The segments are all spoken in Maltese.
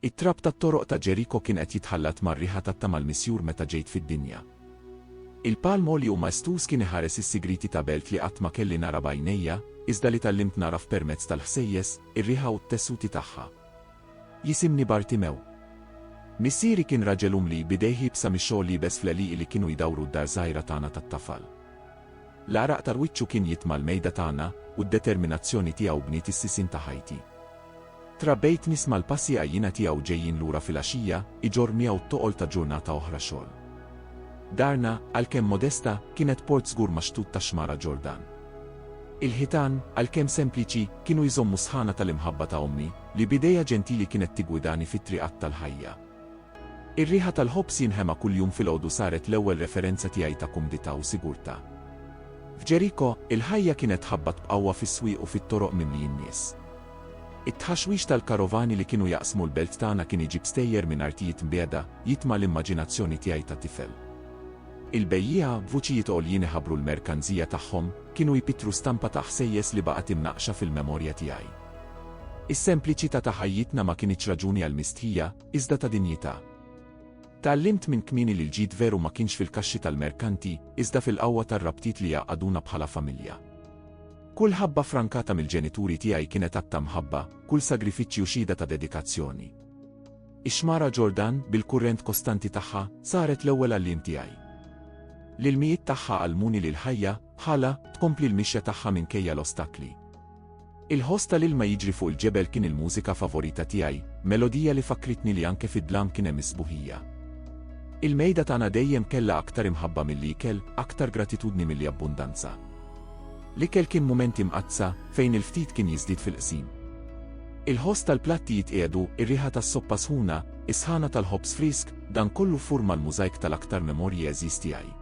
It-trab tat-toroq ta' Ġeriko kien qed jitħallat mar-riħa tat-tama l-misjur meta ġejt fid-dinja. Il-palm għoli u maestuż kien iħares is-sigrieti ta' belt li qatt ma kelli nara b'għajnejja, iżda li tgħallimt nagħraf permezz tal-ħsejjes, ir-riħa u t-tessuti tagħha. Jisimni Bartimew. Missieri kien raġel umli b'idejh iebsa mix-xogħol liebes fl-għelieqi li kienu jdawru d-dar żgħira tagħna tat-tafal. L-għaraq tal-wiċċu kien jitma' l-mejda tagħna, u d-determinazzjoni tiegħu bniet is-sisin ta' ħajti. Trabbejt nisma' l-passi għajjina tiegħu ġejjin lura filgħaxija, iġorr miegħu t-toqol ta' ġurnata oħra xogħol. Darna, għalkemm modesta, kienet port żgur max-xtut tax-Xmara Ġordan. Il-ħitan, għalkemm sempliċi, kienu jżommu sħana tal-imħabba ta' ommi, li b'idejha ġentili kienet tiggwidani fit-triqat tal-ħajja. Ir-riħa tal-ħobż jinħema kuljum filgħodu saret l-ewwel referenza tiegħi ta' kumdità u sigurtà. F'Ġeriko, il-ħajja kienet tħabbat b'qawwa fis-swieq u fit-toroq mimlijin nies. It-tħaxwix tal-karovani li kienu jaqsmu l-belt tagħna kien iġib stejjer minn artijiet mbiegħda, jitma' l-immaġinazzjoni tiegħi ta' tifel. Il-bejjiegħa, b'vuċijiet għoljin iħabbru l-merkanzija tagħhom, kienu jpittru stampa ta' ħsejjes li baqgħet imnaqqxa fil-memorja tiegħi. Is-sempliċità ta' ħajjitna ma kinitx raġuni għal mistħija, iżda ta' dinjità. Tgħallimt minn kmieni li l-ġid veru ma kienx fil-kaxxi tal-merkanti, iżda fil-qawwa tar-rabtiet li jgħaqqaduna bħala familja. Kull ħabba frankata mill-ġenituri tiegħi kienet att ta' mħabba, kull sagrifiċċju xhieda ta' dedikazzjoni. Ix-xmara Ġordan, bil-kurrent kostanti tagħha, saret l-ewwel għalliem tiegħi. L-ilmijiet tagħha għallmuni li l-ħajja, bħalha, tkompli l-mixja tagħha minkejja l-ostakli. Il-ħoss tal-ilma jiġri fuq il-ġebel kien il-mużika favorita tiegħi, melodija li fakkritni li anke fid-dlam kien hemm is-sbuħija. Il-mejda tagħna dejjem kellha aktar imħabba milli ikel, aktar gratitudni milli abbundanza. L-ikel kien mumenti mqaddsa, fejn il-ftit kien jiżdied fil-qsim. Il-ħoss tal-platti jitqiegħdu, ir-riħa tas-soppa sħuna, is-sħana tal-ħobż frisk, dan kollu furma l-mużajk tal-aktar memorji għeżież tiegħi.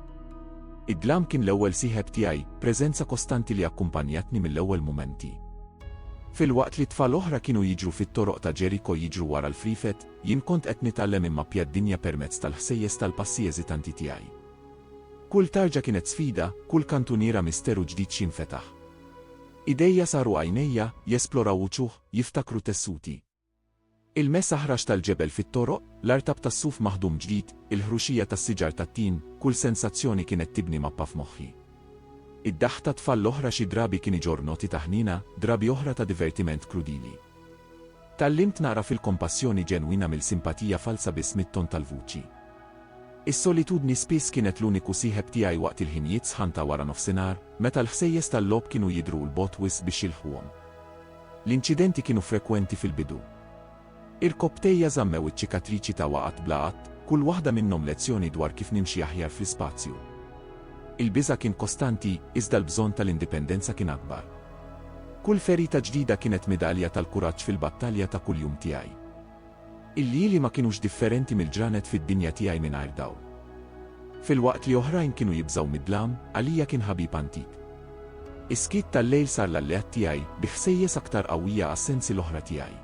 Id-dlam kien l-ewwel sieħeb tiegħi, preżenza kostanti li akkumpanjatni mill-ewwel mumenti. Filwaqt li tfal oħra kienu jiġru fit-toroq ta' Ġeriko jiġru wara l-friefet, jien kont qed nitgħallem immappja d-dinja permezz tal-ħsejjes tal-passi eżitanti tiegħi. Kull tarġa kienet sfida, kull kantuniera misteru ġdid x'jinfetaħ. Idejja saru għajnejja, jesploraw wuċuh, jiftakru tessuti. Il-mess aħrax tal-ġebel fit-toroq, l-artab tas-suf maħdum ġdid, il-ħruxija tas-siġar tat-tin, kull sensazzjoni kienet tibni mappa f'moħħi. Id-daħk tat-tfal l-oħra xi drabi kien iġorr noti ta' ħniena, drabi oħra ta' divertiment krudili. Tgħallimt nagħraf il-kompassjoni ġenwina mill-simpatija falza biss mit-ton tal-vuċi. Is-solitudni spiss kienet l-uniku sieħeb tiegħi waqt il-ħinijiet sħan ta' wara nofsinhar, meta l-ħsejjes tal-logħob kienu jidhru 'l bogħod wisq biex jilħquhom. L-inċidenti kienu frekwenti fil-bidu. Irkopptejja żammew iċ-ċikatriċi ta' waqgħat bla għadd, kull waħda minnhom lezzjoni dwar kif nimxi aħjar fl-ispazju. Il-biża' kien kostanti, iżda l-bżonn tal-indipendenza kien akbar. Kull ferita ġdida kienet midalja tal-kuraġġ fil-battalja ta' kuljum tiegħi. Il-lili ma kinux differenti mill-ġranet fid-dinja tiegħi mingħajr dawl. Filwaqt li oħrajn kienu jibżgħu mid-dlam, għalija kien ħabib antik. Is-skiet tal-lejl sar l-alleat tiegħi, bi ħsejjes aktar qawwija għas-sensi l-oħra tiegħi.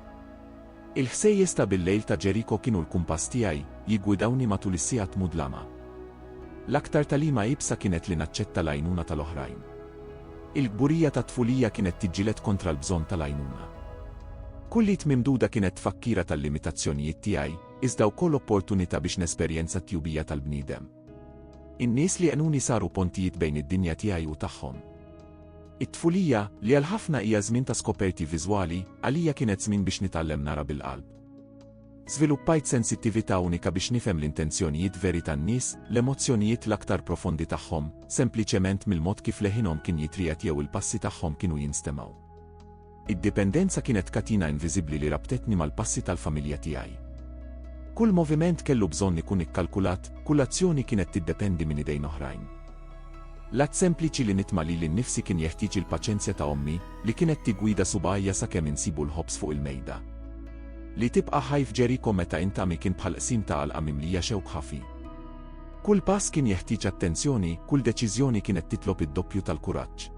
Il-ħsejjes ta' bil-lejl ta' Ġeriko kienu l-kumpass tiegħi, jiggwidawni matul is-sigħat mudlama. L-aktar tagħlima iebsa kienet li naċċetta l-għajnuna tal-oħrajn. Il-kburija tat-tfulija kienet tiġġieled kontra l-bżonn tal-għajnuna. Kull id mimduda kienet tfakkira tal-limitazzjonijiet tiegħi, iżda wkoll opportunità biex nesperjenza t-tjubija tal-bniedem. In-nies li għenuni saru pontijiet bejn id-dinja tiegħi u tagħhom. It-tfulija, li għal ħafna hija żmien ta' skoperti viżwali, għalija kienet żmien biex nitgħallem nara bil-qalb. Żviluppajt sensittività unika biex nifhem l-intenzjonijiet veri tan-nies, l-emozzjonijiet l-aktar profondi tagħhom, sempliċement mill-mod kif leħinhom kien jitriegħed jew il-passi tagħhom kienu jinstemgħu. Id-dipendenza kienet katina inviżibbli li rabtetni mal-passi tal-familja tiegħi. Kull moviment kellu bżonn ikun ikkalkulat, kull azzjoni kienet tiddependi minn idejn oħrajn. L-att sempliċi li nitma' lili nnifsi kien jeħtieġ il-paċenzja ta' ommi, li kienet tiggwida subgħajja sakemm insibu l-ħobż fuq il-mejda. Li tibqa' ħaj f'Ġeriko meta int għami kien bħal qsim ta' għalqa mimlija xewk ħafi. Kull pass kien jeħtieġ attenzjoni, kull deċiżjoni kienet titlob id-doppju tal-kuraġġ.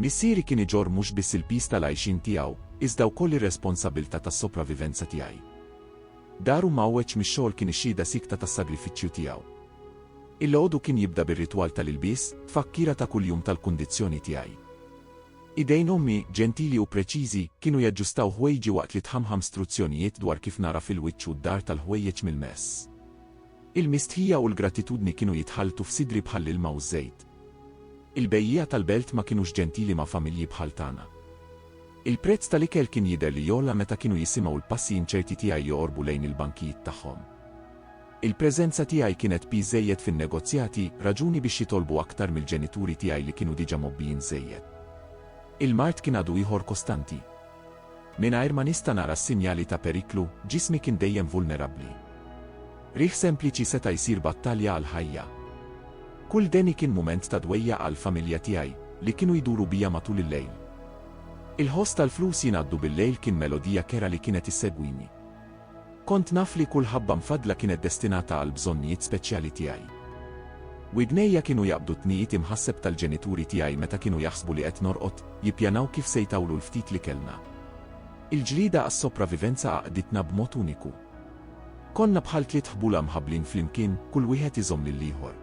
Missieri kien iġorr mhux biss il-piż tal-għajxien tiegħu, iżda wkoll ir-responsabbiltà tas-sopravivenza tiegħi. Daru mgħawweġ mix-xogħol kien ix-xhieda siekta tas-sagrifiċċju tiegħu. Il-għodu kien jibda bir-ritwal tal-ilbies, tfakkira ta' kuljum tal-kundizzjoni tiegħi. Idejn ommi, ġentili u preċiżi, kienu jaġġustaw ħwejġi waqt li tħammħam struzzjonijiet dwar kif nagħraf il-wiċċ u d-dar tal-ħwejjeġ mill-mess. Il-mistħija u l-gratitudni kienu jitħalltu f'sidri bħall-ilma u ż-żejt. Il-bejjiegħa tal-belt ma kinux ġentili ma' familji bħal tagħna. Il-prezz tal-ikel kien jidher li jogħla meta kienu jisimgħu l-passi inċerti tiegħi joqorbu lejn il-bankijiet tagħhom. Il-preżenza tiegħi kienet piż żejjed fin-negozjati, raġuni biex jitolbu aktar mill-ġenituri tiegħi li kienu diġà mgħobbijin żejjed. Il-mard kien għadu ieħor kostanti. Mingħajr ma nista' nara s-sinjali ta' periklu, ġismi kien dejjem vulnerabbli. Qrigħ sempliċi seta' jsir battalja għall-ħajja. Kull deni kien mument ta' dwejjaq għall-familja tiegħi, li kienu jduru bija matul il-lejl. Il-ħoss tal-flus jingħaddu bil-lejl kien melodija kerha li kienet issegwini. Kont naf li kull ħabba mfaddla kienet destinata għall-bżonnijiet speċjali tiegħi. Widnejja kienu jaqbdu t-tniqid imħasseb tal-ġenituri tiegħi meta kienu jaħsbu li qed norqod, jippjanaw kif se jtawlu l-ftit li kellna. Il-ġlieda għas-sopravivenza għaqqditna b'mod uniku. Konna bħal tliet ħbula mħabblin flimkien, kull wieħed iżomm lill-ieħor.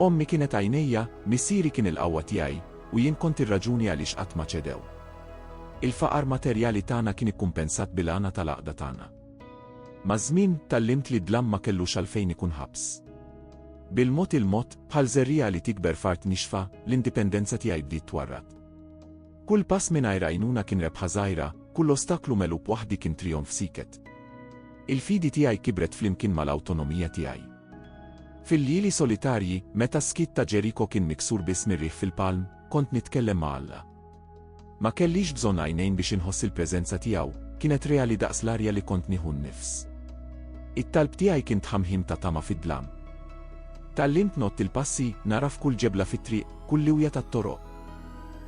Ommi kienet għajnejja, missieri kien il-qawwa tiegħi, u jien kont ir-raġuni għaliex qatt ma ċedew. Il-faqar materjali tagħna kien ikkumpensat bil-għana tal-għaqda tagħna. Maż-żmien, tgħallimt li d-dlam ma kellux għalfejn ikun ħabs. Bil-mod il-mod, bħal żerriegħa li tikber f'art nixfa, l-indipendenza tiegħi bdiet twarrad. Kull pass mingħajr għajnuna kien rebħa żgħira, kull ostaklu megħlub waħdi kien trijonf siket. Il-fidi tiegħi kibret flimkien mal-awtonomija tiegħi. Fil-lili solitarji, meta s-skit ta' Ġeriko kien miksur biss mir-riħ fil-palm, kont nitkellem ma' Alla. Ma kellix bżonn għajnejn biex inħoss il-preżenza tiegħu, kienet reali daqs l-arja li kont nieħu nnifs. It-talb tiegħi kien tħamħim ta' tama fid-dlam. Tgħallimt ngħodd il-passi, nagħraf kull ġebla fit-triq, kull liwja tat-toroq.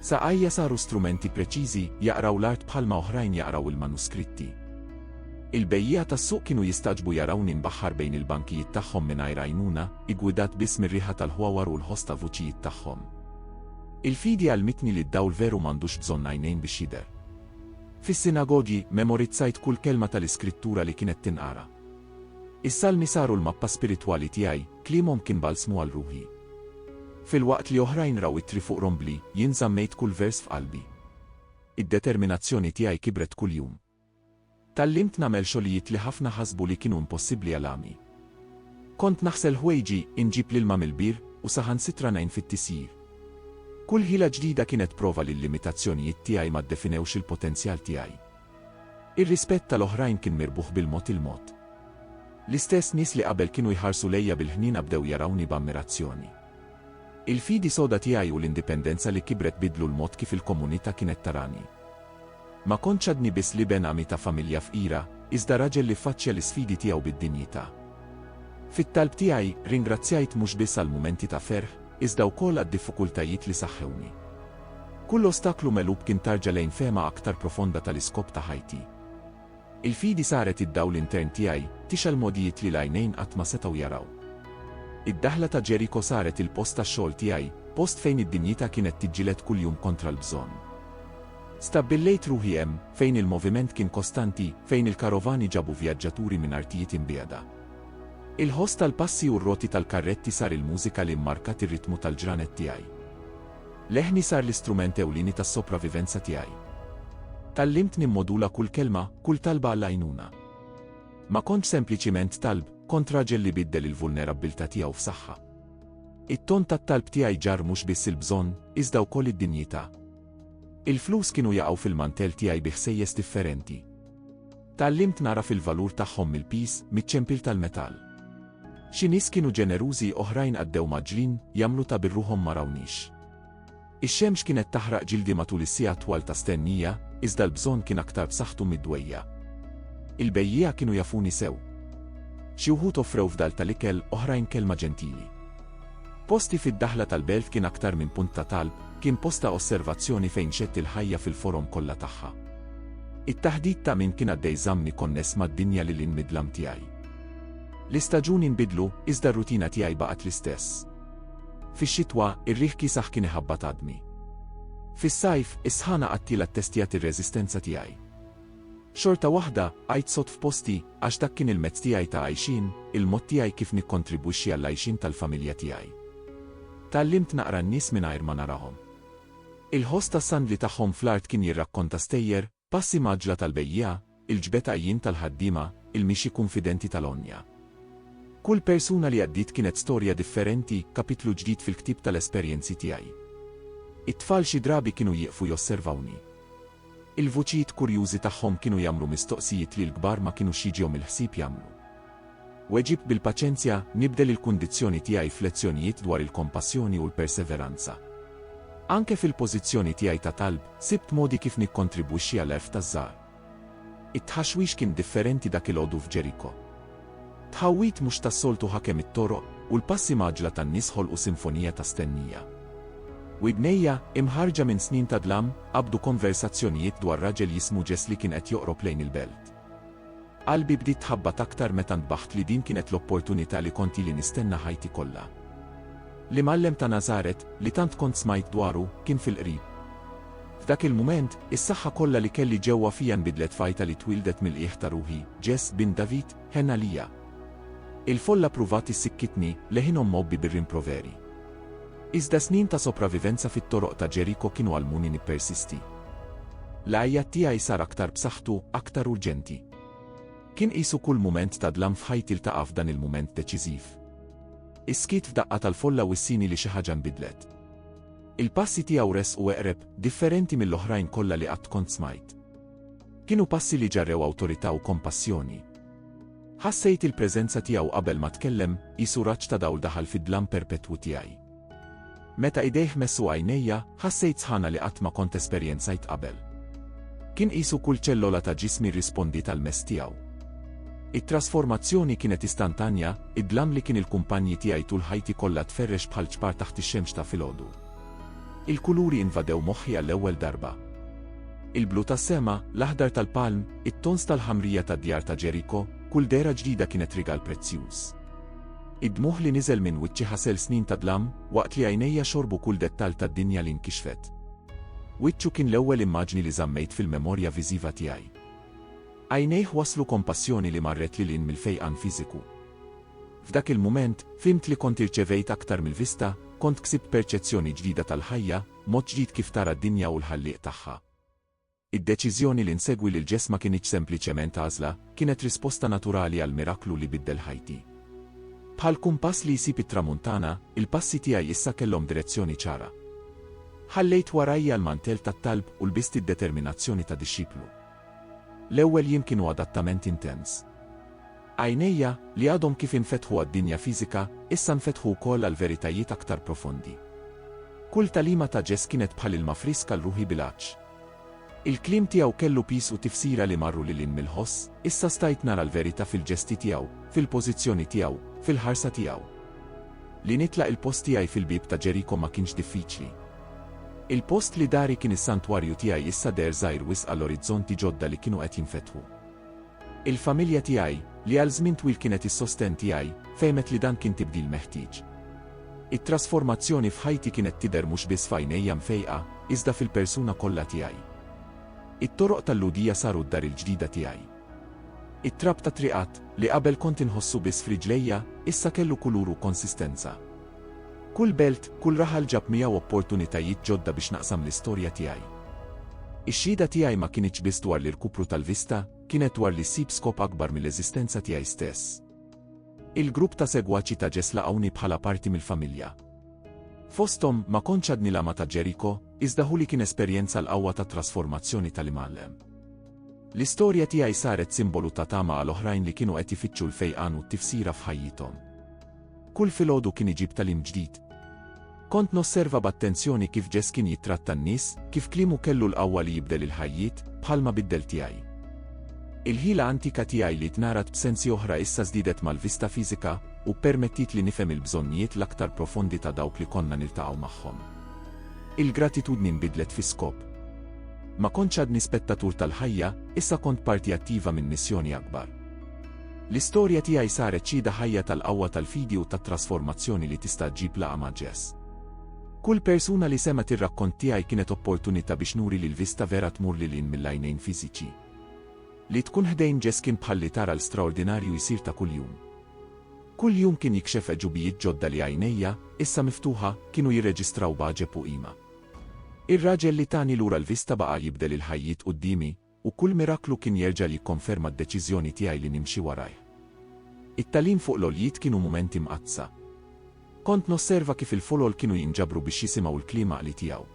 Saqajja saru strumenti preċiżi, jaqraw l-art bħalma oħrajn jaqraw il-manuskritti. Il-bejjiegħa tas-suq kienu jistagħġbu jarawni nbaħħar bejn il-bankijiet tagħhom mingħajr għajnuna, iggwidat biss mir-riħa tal-ħwawar u l-ħoss ta' vuċijiet tagħhom. Il-fidi għallmitni li d-dawl veru m'għandux bżonn għajnejn biex jidher. Fis-sinagogi, memorizzajt kull kelma tal-Iskrittura li kienet tinqara. Is-salmi saru l-mappa spiritwali tiegħi, kliemhom kien balsmu għal ruħi. Filwaqt li oħrajn raw ittri fuq rombli, jien żammejt kull vers f'qalbi. Id-determinazzjoni tiegħi kibret kuljum. Tgħallimt nagħmel xogħlijiet li ħafna ħasbu li kienu impossibbli għal għami. Kont naħsel ħwejġi, inġib l-ilma mill-bir, u saħansitra ngħin fit-tisjir. Kull ħila ġdida kienet prova li l-limitazzjonijiet tiegħi ma ddefinewx il-potenzjal tiegħi. Ir-rispett tal-oħrajn kien mirbuħ bil-mod il-mod. L-istess nies li qabel kienu jħarsu lejja bil-ħniena bdew jarawni b'ammirazzjoni. Il-fidi soda tiegħi u l-indipendenza li kibret biddlu l-mod kif il-komunità kienet tarani. Ma kontx għadni biss l-iben għami ta' familja fqira, iżda raġel li ffaċċja l-isfidi tiegħu bid-dinjità. Fit-talb tiegħi, ringrazzjajt mhux biss għall-mumenti ta' ferħ, iżda wkoll għad-diffukultajiet li saħħewni. Kull ostaklu megħlub kien tarġa lejn fehma aktar profonda tal-iskop ta' ħajti. Il-fidi saret id-dawl intern tiegħi, tixgħel mogħdijiet li l-għajnejn qatt ma setgħu jaraw. Id-daħla ta' Ġeriko saret il-post tax-xogħol tiegħi, post fejn id-dinjità kienet tiġġieled kuljum kontra l-bżonn. Stabbillejt ruħi hemm, fejn il-moviment kien kostanti, fejn il-karovani ġabu vjaġġaturi minn artijiet imbiegħda. Il-ħoss tal-passi u r-roti tal-karretti sar il-mużika li mmarkat ir-ritmu tal-ġranet tiegħi. Leħni sar l-istrument ewlieni tas-sopravivenza tiegħi. Tgħallimt nimmodula kull kelma, kull talba għall-għajnuna. Ma kontx sempliċiment talb, kont raġel li biddel il-vulnerabbiltà tiegħu f'saħħa. It-ton tat-talb tiegħi ġarr mhux biss il-bżonn, iżda wkoll id-dinjità. Il-flus kienu jaqgħu fil-mantell tiegħi bi ħsejjes differenti. Tgħallimt nagħraf il-valur tagħhom mill-piż, miċ-ċempil tal-metall. Xi nies kienu ġenerużi, oħrajn għaddew mgħaġġlin, jagħmlu ta' birruħhom ma rawniex. Ix-xemx kienet taħraq ġildi matul is-siegħat twal ta' stennija, iżda l-bżonn kien aktar b'saħħtu mid-dwejja'. Il-bejjiegħa kienu jafuni sew. Xi wħud offrew fdal tal-ikel, oħrajn kelma ġentili. Posti fid-daħla tal-belt kien aktar minn punt ta' talb, kien post ta' osservazzjoni fejn xedt il-ħajja fil-forom kollha tagħha. It-taħdid ta' min kien għaddej żammni konness mad-dinja lil hinn mid-dlam tiegħi. L-istaġuni nbidlu, iżda r-rutina tiegħi baqgħet l-istess. Fix-xitwa, ir-riħ kiesaħ kien iħabbat għadmi. Fis-sajf, is-sħana qattiela ttestjat ir-reżistenza tiegħi. Xorta waħda, għidt sod f'posti, għax dak kien il-mezz tiegħi ta' għajxien, il-mod tiegħi kif nikkontribwixxi għall-għajxien tal-familja tiegħi. Tgħallimt naqra n-nies mingħajr ma narahom. Il-ħoss tas-sandli tagħhom fl-art kien jirrakkonta stejjer, passi mgħaġġla tal-bejjiegħa, il-ġbed għajjien tal-ħaddiema, il-mixi kunfidenti tal-għonja. Kull persuna li għaddiet kienet storja differenti, kapitlu ġdid fil-ktieb tal-esperjenzi tiegħi. It-tfal xi drabi kienu jieqfu josservawni. Il-vuċijiet kurjużi tagħhom kienu jagħmlu mistoqsijiet li l-kbar ma kinux jiġiom il-ħsieb jagħmlu. Weġib bil-paċenzja, nibdel il-kundizzjoni tiegħi f'lezzjonijiet dwar il-kompassjoni u l-perseveranza. Anke fil-pożizzjoni tiegħi ta' talb, sibt modi kif nikkontribwixxi għall-għerf taż-żgħar. It-tħaxwix kien differenti dak il-għodu f'Ġeriko. Tħawwid mhux tas-soltu ħakem it-toroq, u l-passi mgħaġġla tan-nies ħolqu sinfonija ta' stennija. Widnejja, imħarrġa minn snin ta' dlam, qabdu konversazzjonijiet dwar raġel jismu Jess li kien qed joqrob lejn il-belt. Qalbi bdiet tħabbat aktar meta ntbaħt li din kienet l-opportunità li kont ili nistenna ħajti kollha. L-Imgħallem ta' Nażaret, li tant kont smajt dwaru, kien fil-qrib. F'dak il-mument, is-saħħa kollha li kelli ġewwa fija nbidlet f'għajta li twieldet mill-qiegħ ta' ruħi, Jess, bint David, ħenn għalija. Il-folla ppruvat issikkitni, leħinhom mgħobbi bir-rimproveri. Iżda snin ta' sopravivenza fit-toroq ta' Ġeriko kienu għallmuni nippersisti. L-għajjat tiegħi sar aktar b'saħħtu, aktar urġenti. Kien qisu kull mument ta' dlam f'ħajti ltaqa' f'dan il-mument deċiżiv. Is-skiet f'daqqa tal-folla wissini li xi ħaġa nbidlet. Il-passi tiegħu resqu eqreb, differenti mill-oħrajn kollha li qatt kont smajt. Kienu passi li ġarrew awtorità u kompassjoni. Ħassejt il-preżenza tiegħu qabel ma tkellem, qisu raġġ ta' dawl daħal fid-dlam perpetwu tiegħi. Meta idejh messu għajnejja, ħassejt sħana li qatt ma kont esperjenzajt qabel. Kien qisu kull ċellola ta' ġismi rrispondiet għall-mess tiegħu. It-trasformazzjoni kienet istantanja, Id-dlam li kien il-kumpanji tiegħi tul ħajti kollha tferrex bħal ċpar taħt ix-xemx ta' filgħodu. Il-kuluri invadew moħħi għall-ewwel darba. Il-blu tas-sema, l-aħdar tal-palm, it-tons tal-ħamrija tad-djar ta' Ġeriko, kull dehra ġdida kienet rigal prezzjuż. Id-dmugħ li niżel minn wiċċi ħasel snin ta' dlam, waqt li għajnejja xorbu kull dettall tad-dinja li nkixfet. Wiċċu kien l-ewwel immaġni li żammejt fil-memorja viżiva tiegħi. Għajnejh wasslu kompassjoni li marret lil hinn mill-fejqan fiżiku. F'dak il-mument, fhimt li kont irċevejt aktar mill-vista, kont ksibt perċezzjoni ġdida tal-ħajja, mod ġdid kif tara d-dinja u l-Ħallieq tagħha. Id-deċiżjoni li nsegwi lil Ġess ma kinitx sempliċement għażla, kienet risposta naturali għall-miraklu li biddel ħajti. Bħal kumpass li jsib it-tramuntana, il-passi tiegħi issa kellhom direzzjoni ċara. Ħallejt warajja l-mantell tat-talb u lbist id-determinazzjoni ta' dixxiplu. L-ewwel jiem kienu adattament intens. Għajnejja, li għadhom kif infetħu għad-dinja fiżika, issa nfetħu wkoll għal veritajiet aktar profondi. Kull tagħlima ta' Ġess kienet bħal ilma frisk għal ruħi bil-għatx. Il-kliem tiegħu kellu piż u tifsira li marru lil hinn mill-ħoss, issa stajt nara l-verita' fil-ġesti tiegħu, fil-pożizzjoni tiegħu, fil-ħarsa tiegħu. Li nitlaq il-post tiegħi fil-bieb ta' Ġeriko ma kienx diffiċli. Il-post li dari kien is-santwarju tiegħi issa deher żgħir wisq għal orizzonti ġodda li kienu qed jinfetħu. Il-familja tiegħi, li għal żmien twil kienet is-sostenn tiegħi, fehmet li dan kien tibdil meħtieġ. It-trasformazzjoni f'ħajti kienet tidher mhux biss f'għajnejja mfejqa, iżda fil-persuna kollha tiegħi. It-toroq tal-Lhudija saru d-dar il-ġdida tiegħi. It-trab tat-triqat, li qabel kont inħossu biss f'riġlejja, issa kellu kulur u konsistenza. Kull belt, kull raħal ġab miegħu opportunitajiet ġodda biex naqsam l-istorja tiegħi. Ix-xhieda tiegħi ma kinitx biss dwar l-irkupru tal-vista, kienet dwar li ssib skop akbar mill-eżistenza tiegħi stess. Il-grupp ta' segwaċi ta' Ġess laqgħuni bħala parti mill-familja. Fosthom, ma kontx għadni l-għama ta' Ġeriko, iżda hu li kien esperjenza l-qawwa tat-trasformazzjoni tal-imgħallem. L-istorja tiegħi saret simbolu ta' tama għal oħrajn li kienu qed ifittxu l-fejqan u t-tifsira f'ħajjithom. Kull filgħodu kien iġib tagħlim ġdid. Kont nosserva b'attenzjoni kif Jess kien jittratta n-nies, kif kliemu kellu l-qawwa li jibdel il-ħajjiet, bħalma biddel tiegħi. Il-ħila antika tiegħi li tnarat b'sensi oħra issa żdiedet mal-vista fiżika, u ppermettiet li nifhem il-bżonnijiet l-aktar profondi ta' dawk li konna niltaqgħu magħhom. Il-gratitudni nbidlet fi skop. Ma kontx għadni spettatur tal-ħajja, issa kont parti attiva minn missjoni akbar. L-istorja tiegħi saret xhieda ħajja tal-qawwa tal-fidi u tat-trasformazzjoni li tista' ġġib laqgħa ma' Ġess. Kull persuna li semgħet ir-rakkont tiegħi kienet opportunità biex nuri li l-vista vera tmur lil hinn mill-għajnejn fiżiċi. Li tkun ħdejn Ġess kien bħal li tara l-straordinarju jsir ta' kuljum. Kull jum kien jikxef għeġubijiet ġodda li għajnejja, issa miftuħa, kienu jirreġistraw b'għaġeb u qima. Ir-raġel li tani lura l-vista baqa' jibdel il-ħajjiet quddiemi, U kull miraklu kien jerġa' jikkonferma d-deċiżjoni tiegħi li nimxi warajh. It-tagħlim fuq l-għoljiet kienu mumenti mqaddsa. Kont nosserva kif il-folol kienu jinġabru biex jisimgħu l-kliem għaqli tiegħu.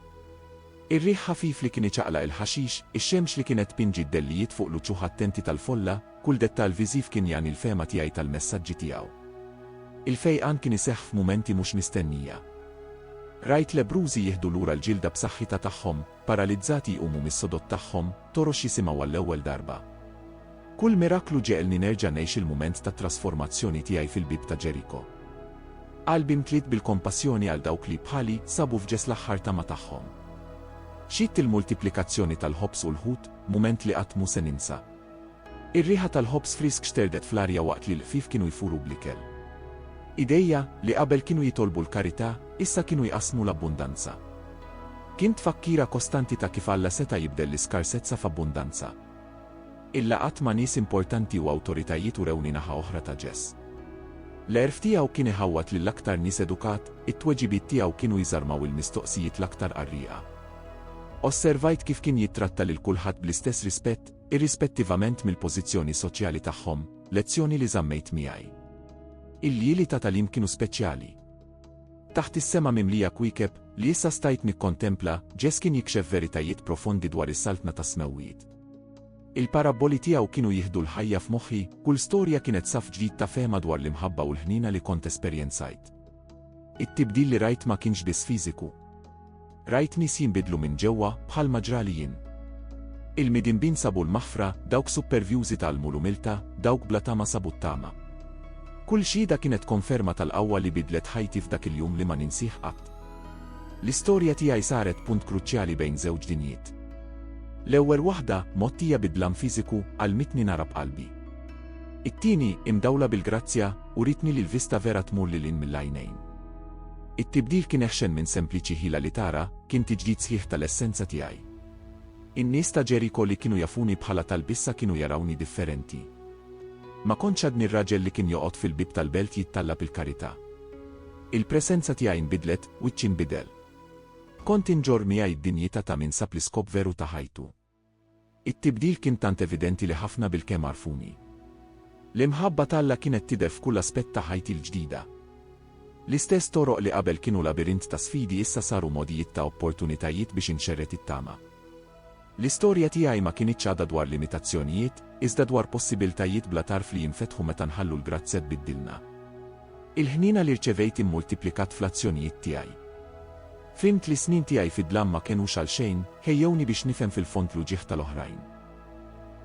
Ir-riħ ħafif li kien iċaqlaq il-ħaxix, ix-xemx li kienet tpinġi d-dellijiet fuq l-uċuħ attenti tal-folla, kull dettall viżiv kien jagħni l-fehma tiegħi tal-messaġġi tiegħu. Il-fejqan kien iseħħ f'mumenti mhux mistennija. Rajt lebrużi jieħdu lura l-ġilda b'saħħitha tagħhom, Paralizzati jqumu mis-sodod tagħhom, torox jisimgħu għall-ewwel darba. Kull miraklu ġegħelni nerġa' ngħix il-mument tat-trasformazzjoni tiegħi fil-bieb ta' Ġeriko. Qalbi mtliet bil-kompassjoni għal dawk li, bħali, sabu f'ġess l-aħħar tama tagħhom. Xhidt il-multiplikazzjoni tal-ħobż u l-ħut, mument li qatt mhu se ninsa. Ir-riħa tal-ħobż frisk xterdet fl-arja waqt li l-ħfief kienu jfuru bl-ikel. Idejja, li qabel kienu jitolbu l-karità, issa kienu jqassmu l-abbundanza. Kien tfakkira kostanti ta' kif Alla seta' jibdel l-iskarsezza f'abbundanza. Il-laqgħat ma' nies importanti u awtoritajiet urewni naħa oħra ta' Ġes. L-għerf tiegħu kien iħawwad lill-aktar nies edukat, it-tweġibiet tiegħu kienu jżarmaw il-mistoqsijiet l-aktar qarrieqa. Osservajt kif kien jittratta lil kulħadd bl-istess rispett, irrispettivament mill-pożizzjoni soċjali tagħhom, lezzjoni li żammejt miegħi. Il-lieli ta' tagħlim kienu speċjali. Taħt is-sema mimlija kwiekeb li issa stajt nikkontempla, Ġess kien jikxef veritajiet profondi dwar is-saltna tas-smewwiet. Il-parabboli tiegħu kienu jieħdu l-ħajja f'moħħi, kull storja kienet saf ġdid ta' fehma dwar l-imħabba u l-ħniena li kont esperjenzajt. It-tibdil li rajt ma kienx biss fiżiku, Rajt nies jinbidlu minn ġewwa, bħalma ġrali jien. Il-midinbin sabu l-maħfra, dawk suppervjużi tgħallmu l-umiltà, dawk bla tama sabu t-tama. Kull xhieda kienet konferma tal-qawwa li bidlet ħajti f'dak il-jum li ma ninsih qatt. L-istorja tiegħi saret punt kruċjali bejn żewġ dinjiet. L-ewwel waħda, mgħottija bi dlam fiżiku, għallmitni nara b'qalbi. It-tieni, imdawla bil-grazzja, uritni li l-vista vera tmur lil hinn mill-għajnejn. It-tibdil kien eħxen minn sempliċi ħila li tara, kien tiġdid sħiħ tal-essenza tiegħi. In-nies ta' Ġeriko li kienu jafuni bħala talb issa kienu jarawni differenti. Ma kontx għadni r-raġel li kien joqgħod fil-bieb tal-belt jittallab il-karità. Il-presenza tiegħi nbidlet, wiċċi nbidel. Kont inġorr miegħi d-dinjità ta' min sab l-iskop veru ta' ħajtu. It-tibdil kien tant evidenti li ħafna bilkemm għarfuni. L-imħabba t'Alla kienet tidher f'kull aspett ta' ħajti l-ġdida. L-istess toroq li qabel kienu labirint ta' sfidi issa saru mogħdijiet ta' opportunitajiet biex inxerred it-tama. L-istorja tiegħi ma kinitx għadha dwar limitazzjonijiet, iżda dwar possibiltajiet bla tarf li jinfetħu meta nħallu l-grazzja tbiddilna. Il-ħniena li rċevejt immultiplikat fl-azzjonijiet tiegħi. Fhimt li s-snin tiegħi fid-dlam ma kenux għal xejn, ħejjewni biex nifhem fil-fond l-uġigħ tal-oħrajn.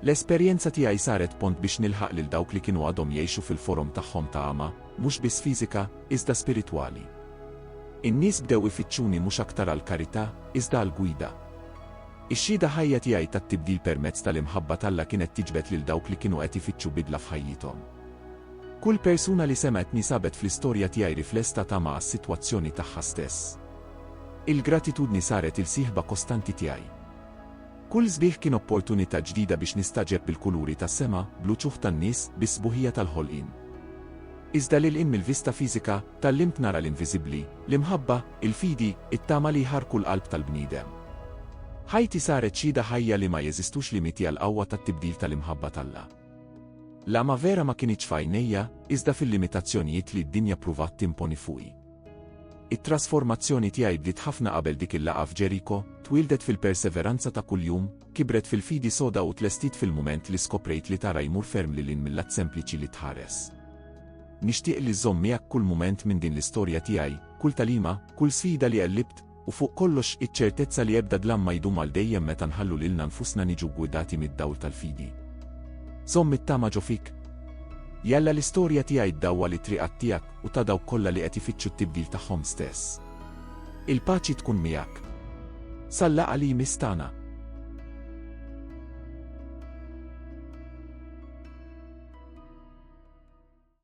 L-esperjenza tiegħi saret pont biex nilħaq lil dawk li kienu għadhom jgħixu fil-forom tagħhom ta' għama, mhux biss fiżika, iżda spiritwali. In-nies bdew ifittxuni mhux aktar għall-karità, iżda għall-gwida. Ix-xhieda ħajja tiegħi tat-tibdil permezz tal-imħabba t'Alla kienet tiġbed lil dawk li kienu qed ifittxu bidla f'ħajjithom. Kull persuna li semgħetni sabet fl-istorja tiegħi riflesta ta' ma' s-sitwazzjoni tagħha stess. Il-gratitudni saret il-sieħba kostanti tiegħi. Kull sbieħ kien opportunità ġdida biex nistagħġeb bil-kuluri tas-sema, bl-uċuħ tan-nies, bis-sbuħija tal-ħolqien. Iżda lil hinn mill-vista fiżika, tgħallimt nara l-inviżibbli, l-imħabba, il-fidi, it-tama li jħarrku l-qalb tal-bniedem. Ħajti saret xhieda ħajja li ma jeżistux limiti għall-qawwa tat-tibdil tal-imħabba t'Alla. L-għama vera ma kinitx f'għajnejja, iżda fil-limitazzjonijiet li d-dinja ppruvat timponi fuqi. It-trasformazzjoni tiegħi bdiet ħafna qabel dik il-laqgħa f'Ġeriko, twieldet fil-perseveranza ta' kuljum, kibret fil-fidi soda u tlestiet fil-mument li skoprejt li tara jmur ferm lil hinn mill-att sempliċi li tħares. Nixtieq li żżomm miegħek kull mument minn din l-istorja tiegħi, kull tagħlima, kull sfida li qellibt, U fuq kollox, iċ-ċertezza li ebda dlam ma jdum għal dejjem meta nħallu lilna nfusna niġu ggwidati mid-dawl tal-fidi. Żomm it-tama ġo fik. Jalla l-istorja tiegħi ddawwal it-triqat tiegħek u ta' dawk kollha li qed ifittxu t-tibdil tagħhom stess. Il-paċi tkun miegħek. Sal-laqgħa li jmiss tagħna.